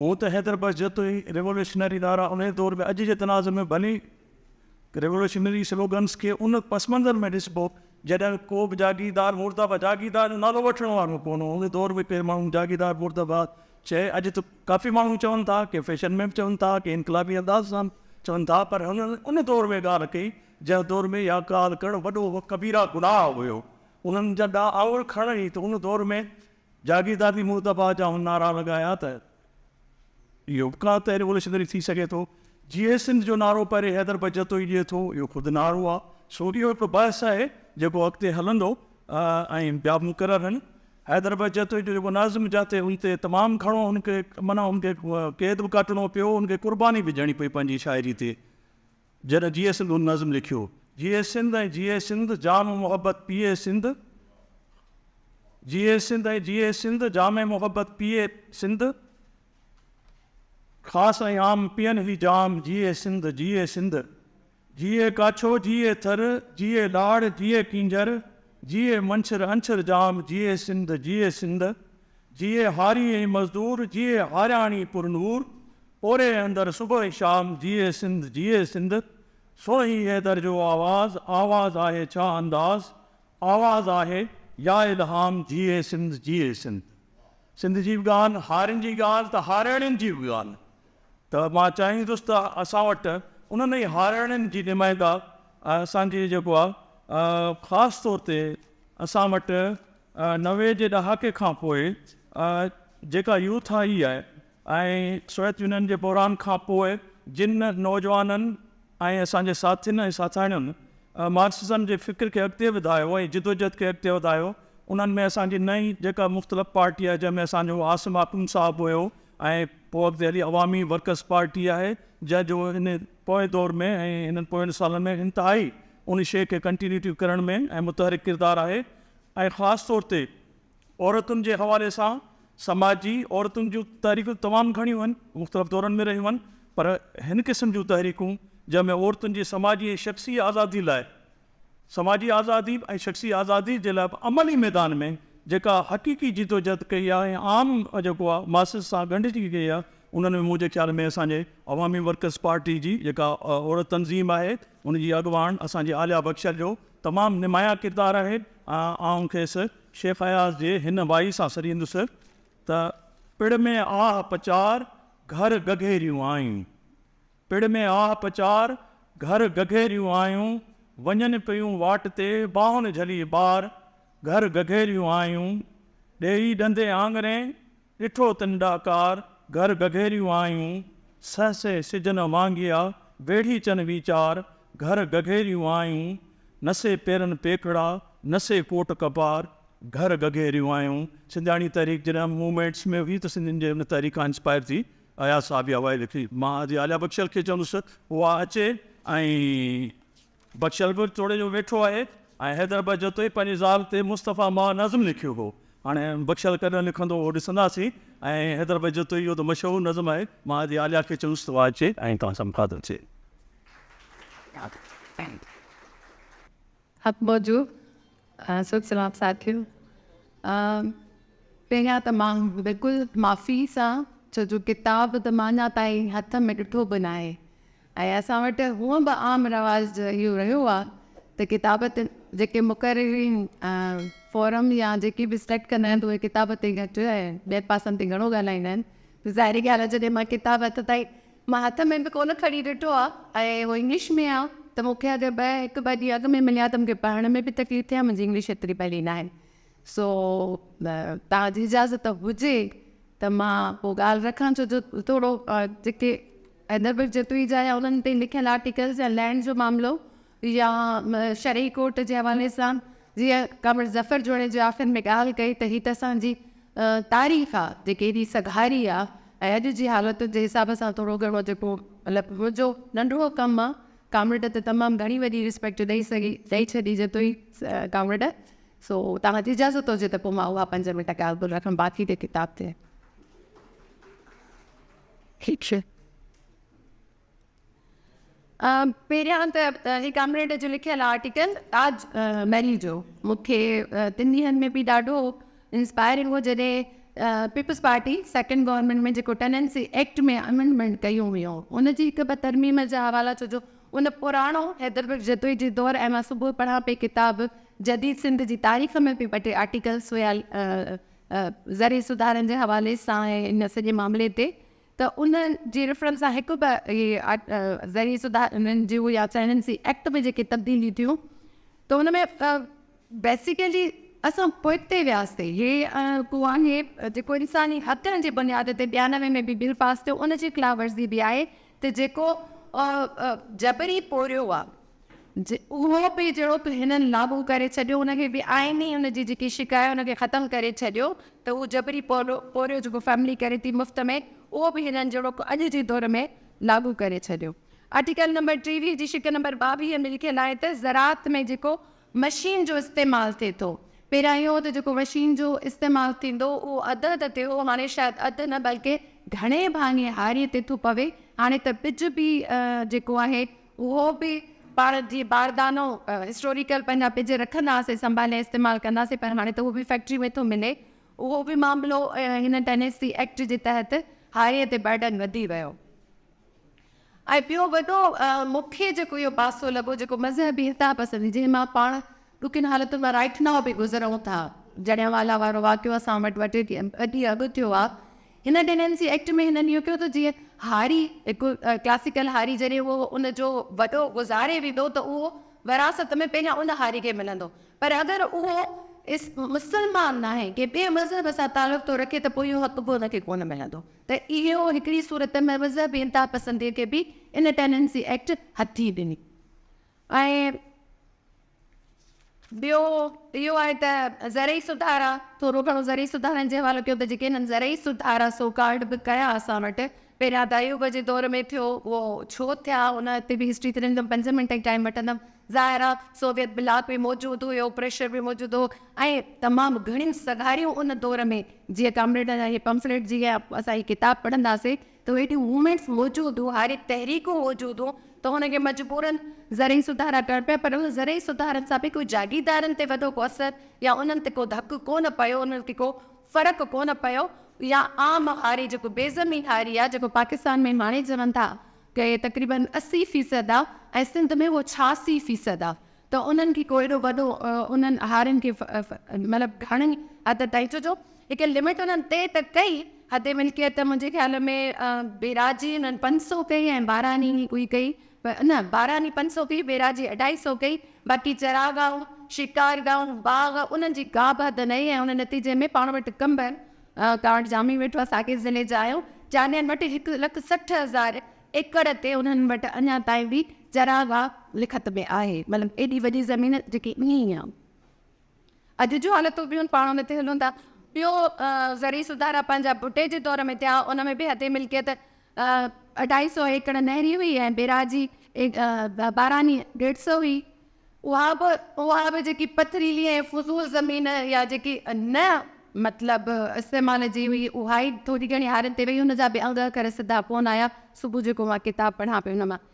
هونء ته حيدر بخش جتوئي ريولوشنري نعرا انهيء دور ۾ اڄ جي تناظر ۾ ڀلي ريولوشنري سلوگنز کي ان پس منظر ۾ ڏسبو جڏهن ڪوبه جاگيردار مورتاباد جاگيردار جو نالو وٺڻ وارو ڪونه هو ان دور ۾ ڪي ماڻهو جاگيردار مورتاباد چئي اڄ ته ڪافي ماڻهو چون ٿا ڪي فيشن ۾ به چون ٿا ڪي انقلابي انداز سان به چون ٿا پر هنن ان دور ۾ ڳالهه ڪئي جنهن دور ۾ اها ڳالهه ڪرڻ وڏو ڪبيره گناهه هيو انهن جا ڏانهن آڱر کڻڻ ئي ته ان دور ۾ جاگيردار به مون دباء جا هن نعرا لڳايا ته اهو به ڪا ته ريوليوشنري ٿي سگهي ٿو، جيئي سنڌ جو نعرو پهرين حيدر بجتو ئي ڏئي ٿو، اهو خود نعرو آ، سو اهو هڪڙو بحث آهي جيڪو اڳتي هلندو ۽ ٻيا به مقرر آهن. حيدر بجتوئي جو جيڪو نظم جاتي هن تي تمام گهڻو هن کي معنيٰ هن کي قيد به ڪاٽڻو پيو، هن کي قرباني به ڏيڻي پئي پنهنجي شاعري تي. جڏهن جيئي سنڌ هن نظم لکيو. جيئي سنڌ ۽ جيئي سنڌ جام محبت پيئي سنڌ جيئي سنڌ ۽ جيئي سنڌ جام محبت پيئي سنڌ خاص ۽ عام پيئن هي جام جيئي سنڌ جيئي سنڌ جيئي ڪاڇو جيئي ٿر جيئي لاڙ جيئي ڪينجهر جيئي منڇر انڇر جام جيئي سنڌ جيئي سنڌ جيئي هاري ۽ مزدور، جيئي هارياڻي پر نور، پوري اندر صبح شام، جيئي سنڌ جيئي سنڌ، سونهي حيدر جو آواز، آواز آهي ڇا انداز، آواز آهي يا الهام، جيئي سنڌ جيئي سنڌ. سنڌ جي به ڳالهه، هارين جي ڳالهه ته هارياڻين جي به ڳالهه ته مان چاهيندس ته اسان وٽ انهن ئي هارياڻين جي نمائنده اسان جي جيڪو آهي خاص طور تي اسان وٽ نوي جي ڏهاڪي کان پوء جيڪا يوٿ آئي آهي ۽ سويت يونين جي بحران کان پوء جن نوجوانن ۽ اسان جي ساٿين ۽ ساٿاڻين مارڪسزم جي فڪر کي اڳتي وڌايو ۽ جدوجهد کي اڳتي وڌايو انهن ۾ اسان جي نئين جيڪا مختلف پارٽي آهي جنهن ۾ اسان جو عاصم آخوند صاحب هيو ۽ پوء اڳتي هلي عوامي ورڪرز پارٽي آهي جنهن جو هن پوئين دور ۾ ۽ هنن پوئين سالن ۾ انتهائي ان شيء کي ڪنٽينيوٽي ڪرڻ ۾ ۽ متحرڪ ڪردار آهي ۽ خاص طور تي عورتن جي حوالي سان سماجي عورتن جون تحريڪون تمام گهڻيون هن مختلف دورن ۾ رهيون هن پر هن قسم جون تحريڪون جنهن ۾ عورتن جي سماجي ۽ شخصي آزادي لاء سماجي آزادي ۽ شخصي آزادي جي لاء عملي ميدان ۾ جيڪا حقيقي جدوجهد ڪئي آهي ۽ عام جيڪو آهي ماسز سان ڳنڍجي ڪئي آهي انهن ۾ منهنجي خيال ۾ اسان جي عوامي ورڪرز پارٽي جي جيڪا عورت تنظيم آهي ان جي اڳواڻ اسان جي عاليا بخشل جو تمام نمايان ڪردار آهي آئون کيس شيخ اياز جي هن وائي سان سڏيندس ته پڙ ۾ آهه پچار گهر گگهيريون آيون پڙ ۾ آهه پچار گهر گگهيريون آيون وڃن پيون واٽ تي ٻانهن جهلي ٻار گهر گگهيريون آيون ڏيئي ڏندي آڱرين ڏٺو تن ڏاڪار گهر گگهيريون آيون، سهسي سجن وانگيا ويڙهي چن ويچار گهر گگهيريون آيون، نسي پيرن پيکڙا نسي ڪوٽ ڪپار گهر گگهيريون آيون. سنڌياڻي تحريڪ جڏهن موومينٽس ۾ هئي ته سنڌين جي ان تحريڪ کان انسپائر ٿي اياز صاحب اها وائي لکي مان حاجي عاليابخشل کي چوندس ته اها اچي ۽ بخشل به توڙي جو ويٺو آهي ۽ حيدر به جتو ئي پنهنجي زال تي مصطفيٰ مان نظم لکيو هو. هاڻي بخشل ڪڏهن لکندو اهو ڏسنداسين ۽ حيدر به جتو ئي اهو ته مشهور نظم آهي. مان ادي عاليا کي چيس ته اها اچي ۽ توهان سان مخاطب ٿئي. حق موضوع سوچ سلام ساٿيو پهريان ته مان بلڪل معافي سان ڇو جو ڪتاب ته مان اڃا تائين هٿ ۾ ڏٺو به ناهي ۽ اسان وٽ هونء به عام رواج اهو رهيو آهي ته ڪتاب تي جيڪي مقررين فورم يا جيڪي به سليڪٽ ڪندا آهن ته اهي ڪتاب تي گهٽ ۽ ٻين پاسن تي گهڻو ڳالهائيندا آهن ته ظاهري ڳالهه آهي جڏهن مان ڪتاب هٿ تائين مان هٿ ۾ به ڪونه کڻي ڏٺو آهي ۽ اهو انگلش ۾ آهي ته مون کي اگر ٻه هڪ ٻه ڏينهن اڳ ۾ ملي ها ته مون کي پڙهڻ ۾ به تڪليف ٿئي ها منهنجي انگلش ايتري ڀلي نه آهي سو توهان جي اجازت هجي ته مان پوء ڳالهه رکان ڇو جو ٿورو جيڪي حيدربرگ جتوئي جا يا انهن تي لکيل آرٽيڪلز يا لينڊ جو معاملو يا شرعي ڪورٽ جي حوالي سان جيئن ڪامريڊ ظفر جوڻيجي آخر ۾ ڳالهه ڪئي ته هي ته اسان جي تاريخ آ جيڪي ايڏي سگهاري آ ۽ اڄ جي حالتن جي حساب سان ٿورو گهڻو جيڪو مطلب منهنجو ننڍڙو ڪم آ ڪامريڊ ته تمام گهڻي وڏي ريسپيڪٽ ڏئي سگهي ڏئي ڇڏي جتوئي ڪامريڊ سو توهان جي اجازت هجي ته پوء مان اها پنج منٽ ڳالهه ٻولهه رکم باقي ته ڪتاب تي ٺيڪ شيء. پهريان ته هي ڪامريڊ جو لکيل آرٽيڪل تاج محل جو مون کي تن ڏينهن ۾ به ڏاڍو انسپائرنگ هو جڏهن پيپلز پارٽي سيڪنڊ گورنمنٽ ۾ جيڪو ٽيننسي ايڪٽ ۾ امينڊمنٽ ڪيون ويون ان جي هڪ ٻه ترميم جا حوالا ڇو جو ان پراڻو حيدربيگ جتوئي جي دور ۽ مان صبح پڙهان پئي ڪتاب جديد سنڌ جي تاريخ ۾ به ٻه ٽي آرٽيڪلس هيا زرعي سڌارن جي حوالي سان ۽ ان سڄي معاملي تي ته ان جي ريفرنس سان هڪ به زرعي سڌارن جون يا چائنن سي ايڪٽ ۾ جيڪي تبديليون ٿيون ته ان ۾ بيسيڪلي اسان پوئتي وياسي هي ڪو آهي جيڪو انساني حقن جي بنياد تي ٻيانوي ۾ به بل پاس ٿيو ان جي خلاف ورزي به آهي ته جيڪو جبري پورهيو آهي اهو به جهڙوڪ هنن لاڳو ڪري ڇڏيو ان کي بي آئيني ان جي جيڪي شق آهي ان کي ختم ڪري ڇڏيو ته اهو جبري پورهيو جيڪو فيملي ڪري ٿي مفت ۾ اهو به هنن جهڙوڪ اڄ جي دور ۾ لاڳو ڪري ڇڏيو آرٽيڪل نمبر ٽيويهه جي شق نمبر ٻاويهه ۾ لکيل آهي ته زراعت ۾ جيڪو مشين جو استعمال ٿئي ٿو. پهريان اهو هو ته جيڪو مشين جو استعمال ٿيندو هو اهو اڌ اڌ تي هو هاڻي شايد اڌ نه بلڪه گهڻي ڀاڱي هاري تي ٿو پوي هاڻي ته ٻج به جيڪو آهي اهو به پاڻ جي باردانو هسٽوريڪل پنهنجا ٻج رکنداسين سنڀالي استعمال ڪنداسين پر هاڻي ته اهو به فيڪٽري ۾ ٿو ملي اهو به معاملو هن ٽينيسي ايڪٽ جي تحت هاري تي برڊن وڌي ويو. ۽ ٻيو وڏو مون کي جيڪو اهو پاسو لڳو جيڪو مذهبي انتها پسندي جنهن مان پاڻ ڏکين حالتن مان رائٽ ناء به گذرون ٿا، جليانوالا وارو واقعو اسان وٽ ٻه ٽي ڏينهن اڳ ٿيو آهي، هن ڊينينسي ايڪٽ ۾ هنن اهو ڪيو ته جيئن هاري هڪ ڪلاسيڪل هاري جڏهن اهو ان جو وڏو گذاري ويندو ته اهو وراثت ۾ پهريان ان هاري کي ملندو پر اگر اهو مسلمان ناهي ڪنهن ٻئي مذهب سان تعلق ٿو رکي ته پوء اهو حق به ان کي ڪونه ملندو. ته اهو هڪڙي صورت ۾ مذهبي انتهاپسندي کي به ان ٽيننسي ايڪٽ هٿي ڏني ۽ ٻيو اهو آهي ته زرعي سڌارا ٿورو گهڻو زرعي سڌارن جي حوالو ڪيو ته جيڪي هنن زرعي سڌارا سو ڪالڊ به ڪيا اسان وٽ پهريان ته ايوب جي دور ۾ ٿيو اهو ڇو ٿيا ان تي به هسٽري ٿيندم پنج منٽ ئي ٽائيم وٺندم ظاهر آ سوويت بلاڪ به موجود هيو پريشر به موجود هو ۽ تمام گهڻيون سگهاريون ان دور ۾ جيئن ڪامريڊن اهي پمفليٽ جي يا اسان هي ڪتاب پڙهنداسين ته هيڏيون موومينٽس موجود هو هاري تحريڪون موجود هون ته هن کي مجبورن زرعي سڌارا ڪرڻ پيا پر ان زرعي سڌارن سان به ڪو جاگيردارن تي وڏو ڪو اثر يا انهن تي ڪو ڌڪ ڪونه پيو انهن کي ڪو فرق ڪونه پيو يا عام هاري جيڪو بيزمين هاري آ جيڪو پاڪستان ۾ هاڻي چون ٿا ڪي تقريبن اسي فيصد آ ۽ سنڌ ۾ هو ڇاسي فيصد آ ته انهن کي ڪو ايڏو وڏو انهن هارين کي مطلب گهڻي حد تائين ڇو جو هڪ لمٽ انهن طئي ته ڪئي حد ملڪيت منهنجي خيال ۾ بيراجي انهن پنج سؤ ڪئي ۽ باراني ڪوئي ڪئي نه باراني پنج سؤ ڪئي بيراجي اڍائي سؤ ڪئي باقي چراگاهون شڪارگاهون باغ انهن جي ڪابه حد نئي ۽ ان نتيجي ۾ پاڻ وٽ ڪنڀر ڪارڊ ڄامي ويٺو آهي ساڳئي ضلعي جا آهيون جانين وٽ هڪ لک سٺ هزار ايڪڙ تي انهن وٽ اڃا تائين به چراگاهه لکت ۾ آهي مطلب ايڏي وڏي زمين جيڪي ائين ئي آهي اڄ جون حالتون ٻيون پاڻ ان تي هلون ٿا ٻيو زرعي سڌارا پنهنجا ڀٽي جي دور ۾ ٿيا ان ۾ به حد ملڪيت اڍائي سو ايڪڙ نهري هئي ۽ بيراجي باراني ڏيڍ سو هئي اها به اها به جيڪي پٿريلي ۽ فضول زمين يا جيڪي نه مطلب استعمال جي هئي اها ئي ٿوري گهڻي هارين تي وئي ان جا به انگ اکر سڌا ڪونه آيا صبح جيڪو مان ڪتاب پڙهان پئي ان مان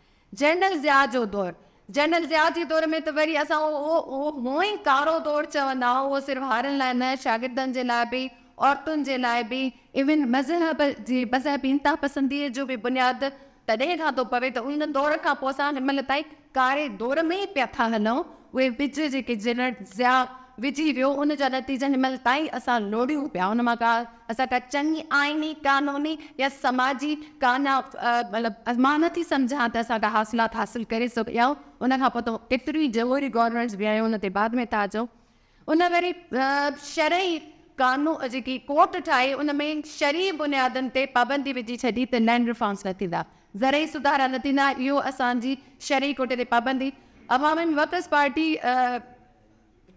جنرل ضياء جو دور جنرل ضياء جي دور ۾ ته وري اسان اهو اهو هونء ئي ڪارو دور چوندا آهيون اهو صرف هارين لاء نه شاگردن جي لاء به عورتن جي لاء به ايون مذهب جي مذهبي انتها پسنديء جو به بنياد تڏهن کان ٿو پوي ته ان دور کان پوء اسان هن مهل تائين ڪاري دور ۾ ئي پيا ٿا هلون. اهي ٻج جيڪي جنرل ضياء وجهي ويو ان جا نتيجا هن مهل تائين اسان لوڙهيون پيا. ان مان اسان ڪا چڱي آئيني، قانوني يا سماجي ڪانا مطلب مان نه ٿي سمجهان ته اسان ڪا حاصلات حاصل ڪري سگهيا آهيون. ان کان پوء ته ڪيتريون ئي جمهوري گورنمينٽس به آيون ان تي بعد ۾ ٿا اچون. ان وري شرعي قانون جيڪي ڪورٽ ٺاهي ان ۾ شرعي بنيادن تي پابندي وجهي ڇڏي ته لينڊ ريفارمز نه ٿيندا، زرعي سڌارا نه ٿيندا، اهو اسان جي شرعي ڪوٽي تي پابندي عوامي ورڪرز پارٽي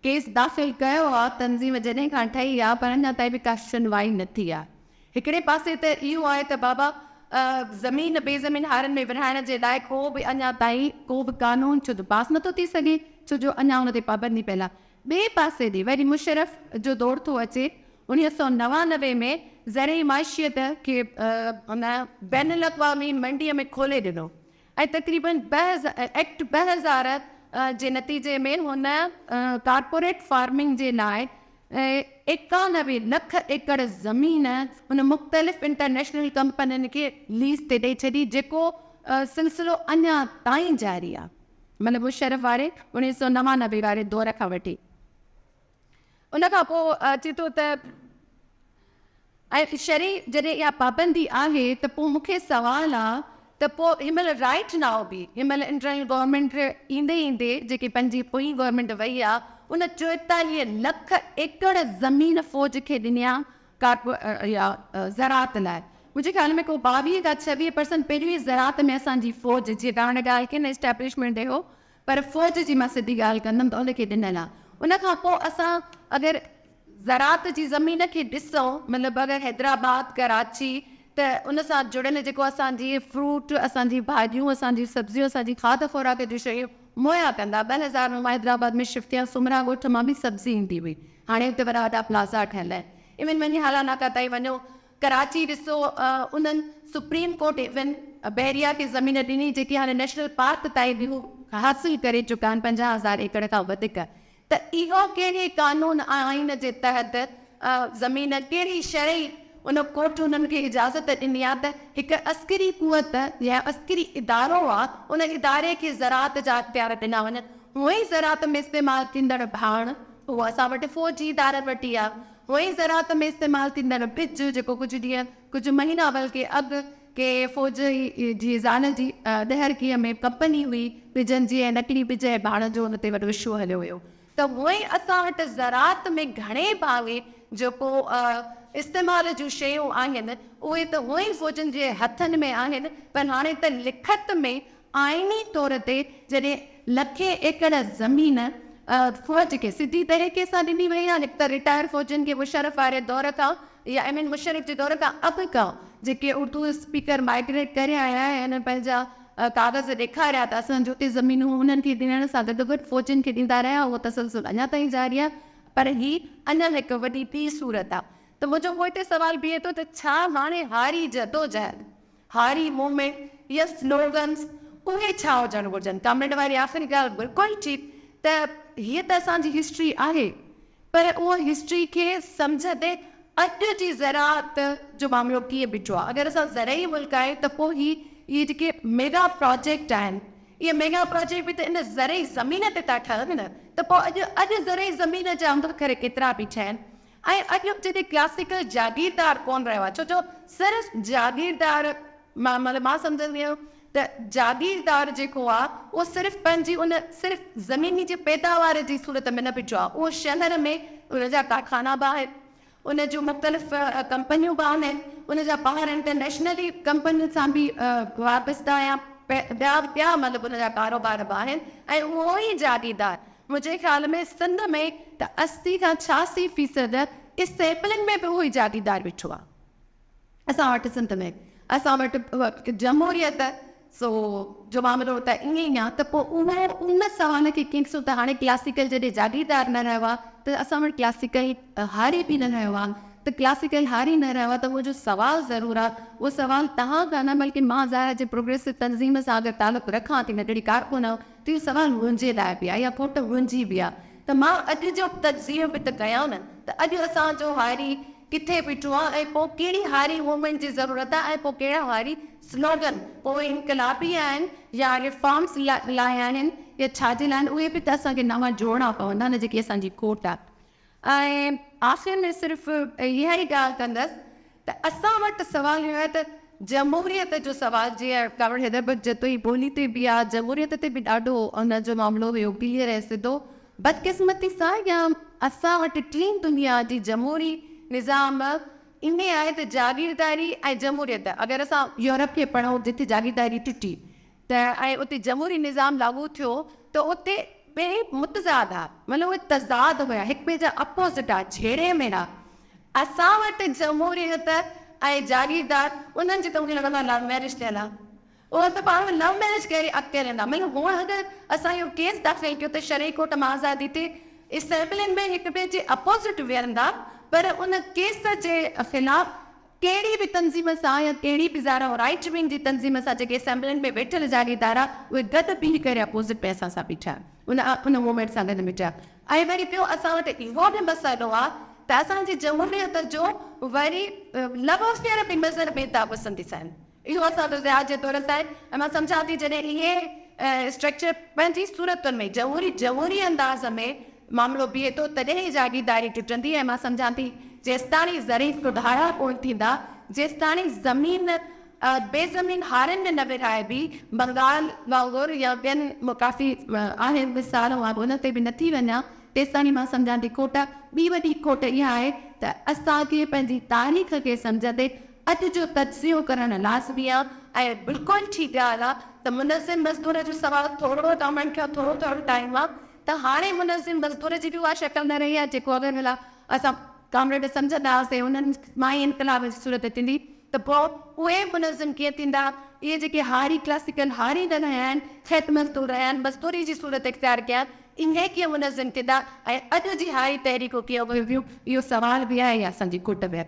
ڪيس داخل ڪيو آهي، تنظيم جڏهن کان ٺهي آهي پر اڃا تائين به ڪا شنوائي نه ٿي آهي. هڪڙي پاسي ته اهو آهي ته بابا زمين بي زمين هارن ۾ ورهائڻ جي لاء ڪو به اڃا تائين ڪو به قانون ڇو ته پاس نٿو ٿي سگهي ڇو جو اڃا ان تي پابندي پيل آهي ٻئي پاسي ڏي وري مشرف جو دور ٿو اچي اڻيهه سؤ نوانوي ۾ زرعي معشيت کي ان بين الاقوامي منڊيء ۾ کولي ڏنو ۽ تقريبن ايڪٽ ٻه هزار جي نتيجي ۾ هن ڪارپوريٽ فارمنگ جي لاء ايڪانوي لک ايڪڙ زمين هن مختلف انٽرنيشنل ڪمپنين کي ليز تي ڏئي ڇڏي جيڪو سلسلو اڃا تائين جاري آهي مطلب مشرف واري اڻيهه سؤ نوانوي واري دور کان وٺي. ان کان پوء اچي ٿو ته ۽ شرع جڏهن اها پابندي آهي ته پوء مون کي سوال آ ته پوء هن مهل رائيٽ نائو به هن مهل انٽرنل گورنمينٽ ايندي ايندي جيڪي پنهنجي پوئين گورنمينٽ وئي آ ان چوئيتاليهه لک ايڪڙ زمين فوج کي ڏني آ زراعت لاء منهنجي خيال ۾ ڪو ٻاويهه کان ڇويهه پرسنٽ پهريون ئي زراعت ۾ اسان جي فوج جي ڏاهڻ ڳالهه ڪين اسٽيبلشمينٽ ڏي هو پر فوج جي مان سڌي ڳالهه ڪندم ته ان کي ڏنل آ. ان کان پوء اسان اگر زراعت جي زمين کي ڏسون مطلب اگر حيدرآباد، ڪراچي ته ان سان جڙيل جيڪو اسان جي فروٽ، اسان جي ڀاڄيون، اسان جي سبزيون، اسان جي کاڌ خوراڪ جون شيون مهيا ڪندا. ٻه هزار ۾ مان حيدرآباد ۾ شفٽ ٿيان سومرا ڳوٺ مان به سبزي ايندي هئي. هاڻي اتي وڏا وڏا پلازا ٺهيل آهن. ايون وڃي هالا ناڪا تائين وڃو ڪراچي ڏسو انهن سپريم ڪورٽ ايون بحريا کي زمين ڏني جيڪي هاڻي نيشنل پارڪ تائين به هو حاصل ڪري چڪا آهن پنجاهه هزار ايڪڙ کان وڌيڪ ته اهو ڪهڙي قانون ۽ آئين جي تحت زمين ڪهڙي شرعي ان ڪورٽ انهن کي اجازت ڏني آهي ته هڪ عسڪري قوت يا عسڪري ادارو آهي ان اداري کي زراعت جا اختيار ڏنا وڃن هونئن زراعت ۾ استعمال ٿيندڙ ڀاڻ اهو اسان وٽ فوجي ادارن وٽ ئي آهي هونئن زراعت ۾ استعمال ٿيندڙ ٻج جيڪو ڪجهه ڏينهن ڪجهه مهينا بلڪه اڳ ڪي فوجي جي زال جي ڏهرڪيء ۾ ڪمپني هئي ٻجن جي ۽ نقلي ٻج ۽ ڀاڻن جو ان تي وڏو اشو هليو ويو ته هونئن اسان وٽ زراعت ۾ گهڻي ڀاڱي جيڪو استعمال جون شيون آهن اهي ته هونئن فوجن جي هٿن ۾ آهن پر هاڻي ته لکت ۾ آئيني طور تي جڏهن لکين ايڪڙ زمين فوج کي سڌي طريقي سان ڏني وئي آهي هڪ ته رٽائر فوجين کي مشرف واري دور کان يا ايم اين مشرف جي دور کان اڳ کان جيڪي اردو اسپيڪر مائگريٽ ڪري آيا آهن انهن پنهنجا ڪاغذ ڏيکاريا ته اسان جو ڪي زمينون انهن کي ڏيڻ سان گڏ گڏ فوجين کي ڏيندا رهيا اهو تسلسل اڃا تائين جاري آهي پر هي اڃا هڪ وڏي ٻي صورت آهي ته منهنجو پوئتي سوال بيهي ٿو ته ڇا هاڻي هاري جدوجهد هاري مومينٽ يا سلوگنز اهي ڇا هجڻ گهرجن؟ ڪامريڊ واري آخري ڳالهه بلڪل ٺيڪ ته هيء ته اسان جي هسٽري آهي پر ان هسٽري کي سمجهندي اڄ جي زراعت جو معاملو ڪيئن بيٺو آهي؟ اگر اسان زرعي ملڪ آهيون ته پوء هي اهي جيڪي ميگا پراجيڪٽ آهن اهي ميگا پراجيڪٽ به ته ان زرعي زمين تي ٿا ٺهن نه ته پوء اڄ اڄ زرعي زمين جا انگ اکر ڪيترا بيٺا آهن ۽ اڄ جيڪي ڪلاسيڪل جاگيردار ڪون رهيا ڇو جو صرف جاگيردار مان مطلب مان سمجهندي آهيان ته جاگيردار جيڪو آهي اهو صرف پنهنجي ان صرف زميني جي پيداوار جي صورت ۾ نه بيٺو آهي اهو شهر ۾ ان جا ڪارخانا به آهن ان جون مختلف ڪمپنيون به آهن ان جا ٻاهر انٽرنيشنلي ڪمپنين سان به وابسته آهيان ٻيا ٻيا مطلب ان جا ڪاروبار به آهن ۽ اهو ئي جاگيردار منهنجي خيال ۾ سنڌ ۾ ته اسي کان ڇياسي فيصد اسيمبلين ۾ به اهو ئي جاگيردار ويٺو آهي. اسان وٽ سنڌ ۾ اسان وٽ جمهوريت سو جو معاملو ته ائين ئي آهي ته پوء اهو ان سوال کي ڪيئن ڏسون ته هاڻي ڪلاسيڪل جڏهن جاگيردار نه رهيو آهي ته اسان وٽ ڪلاسيڪل هاري به نه رهيو آهي ته ڪلاسيڪل هاري نه رهيو آهي ته اهو جو سوال ضرور آهي اهو سوال توهان کان نه بلڪه مان ظاهر آهي جي پروگريسو تنظيم سان اگر تعلق رکان ٿي ننڍڙي ڪارڪن هان تي سوال منهنجي لاء به آ يا کوٽ منهنجي به آ ته مان اڄ جو تجزيو به ته ڪيان نه ته اڄ اسان جو هاري ڪٿي بيٺو آ ۽ پوء ڪهڙي هاري موومينٽ جي ضرورت آ ۽ پوء ڪهڙا هاري سلوگن پوء انقلابي آهن يا ريفارمز لاء آهن يا ڇا جي لاء آهن اهي به ته اسان کي نوان جوڙڻا پوندا نه جيڪي اسان جي کوٽ آ. ۽ آخر ۾ صرف اها ئي ڳالهه ڪندس ته اسان وٽ سوال اهو آهي ته جمهوريت جو سوال جيئن ڪانوڙ حيدربخش جتو جي ٻولي تي به آ، جمهوريت تي به ڏاڍو ان جو معاملو هيو ڪليئر ۽ سڌو. بدقسمتي سان يا اسان وٽ ٽين دنيا جي جمهوري نظام ائين آهي ته جاگيرداري ۽ جمهوريت اگر اسان يورپ کي پڙهون جتي جاگيرداري ٽٽي ته ۽ اتي جمهوري نظام لاڳو ٿيو ته اتي ٻئي متضاد ها مطلب اهي تضاد هيا هڪ ٻئي جا اپوزٽ ها جهيڙي ۾ ها اسان وٽ جمهوريت ۽ جاگيردار انهن جي ته مون کي لڳندو آهي لو ميرج ٿيل ها اهي ته پاڻ ۾ لو ميرج ڪري اڳتي هلندا مطلب هونء اگر اسان اهو ڪيس داخل ڪيو ته شرعي ڪورٽ مان آزادي تي اسيمبلين ۾ هڪ ٻئي جي اپوزٽ ويهندا پر ان ڪيس جي خلاف ڪهڙي به تنظيم سان يا ڪهڙي به ظاهر ۽ رائيٽ ونگ جي تنظيم سان جيڪي اسيمبلين ۾ ويٺل جعلي ادارا اهي گڏ بيهي ڪري اپوزٽ ۾ اسان سان بيٺا ان ان موومينٽ سان گڏ بيٺا ۽ وري ٻيو اسان وٽ اهو به مسئلو آ ته اسان جي جمهوريت جو وري لوافيئر به نظر ۾ ٿا پسنديس آهن. اهو اسان جو ضياء جي دور سان آهي. مان سمجهان ٿي جڏهن اهي اسٽرڪچر پنهنجي صورتن ۾ جهوري جهوري انداز ۾ معاملو بيهي ٿو تڏهن ئي جاگيرداري ٽٽندي ۽ مان سمجهان ٿي جيستاڻي ظريف سڌارا ڪونه ٿيندا جيستاڻي زمين بي زمين هارين ۾ نه ورهائبي بنگال وانگر يا ٻين ڪافي آهن مثال مان انهن تي به نٿي وڃان تيستاڻي مان سمجهان ٿي کوٽ ٻي وڏي کوٽ اها آهي ته اسان کي پنهنجي تاريخ کي سمجهندي اڄ جو تجزيو ڪرڻ لازمي آ ۽ بلڪل ٺيڪ ڳالهه آ ته منظم مزدور جو سوال ٿورڙو ته اوهان کي ٿورو ٿورو ٽائيم آ ته هاڻي منظم مزدور جي به اها شڪل نه رهي آ جيڪو اڳ ڀلا اسان ڪامريڊ سمجهندا هئاسين انهن مان ئي انقلاب جي صورت ٿيندي ته پوء اهي منظم ڪيئن ٿيندا اهي جيڪي هاري ڪلاسيڪل هاري نه رهيا آهن کيت مزدور رهيا آهن مزدوري جي صورت اختيار ڪئي آ اهي ڪيئن منظم ٿيندا ۽ اڄ جي هاري تحريڪون ڪيئن اڀرنديون اهو سوال به آهي اسان جي کوٽ ۾.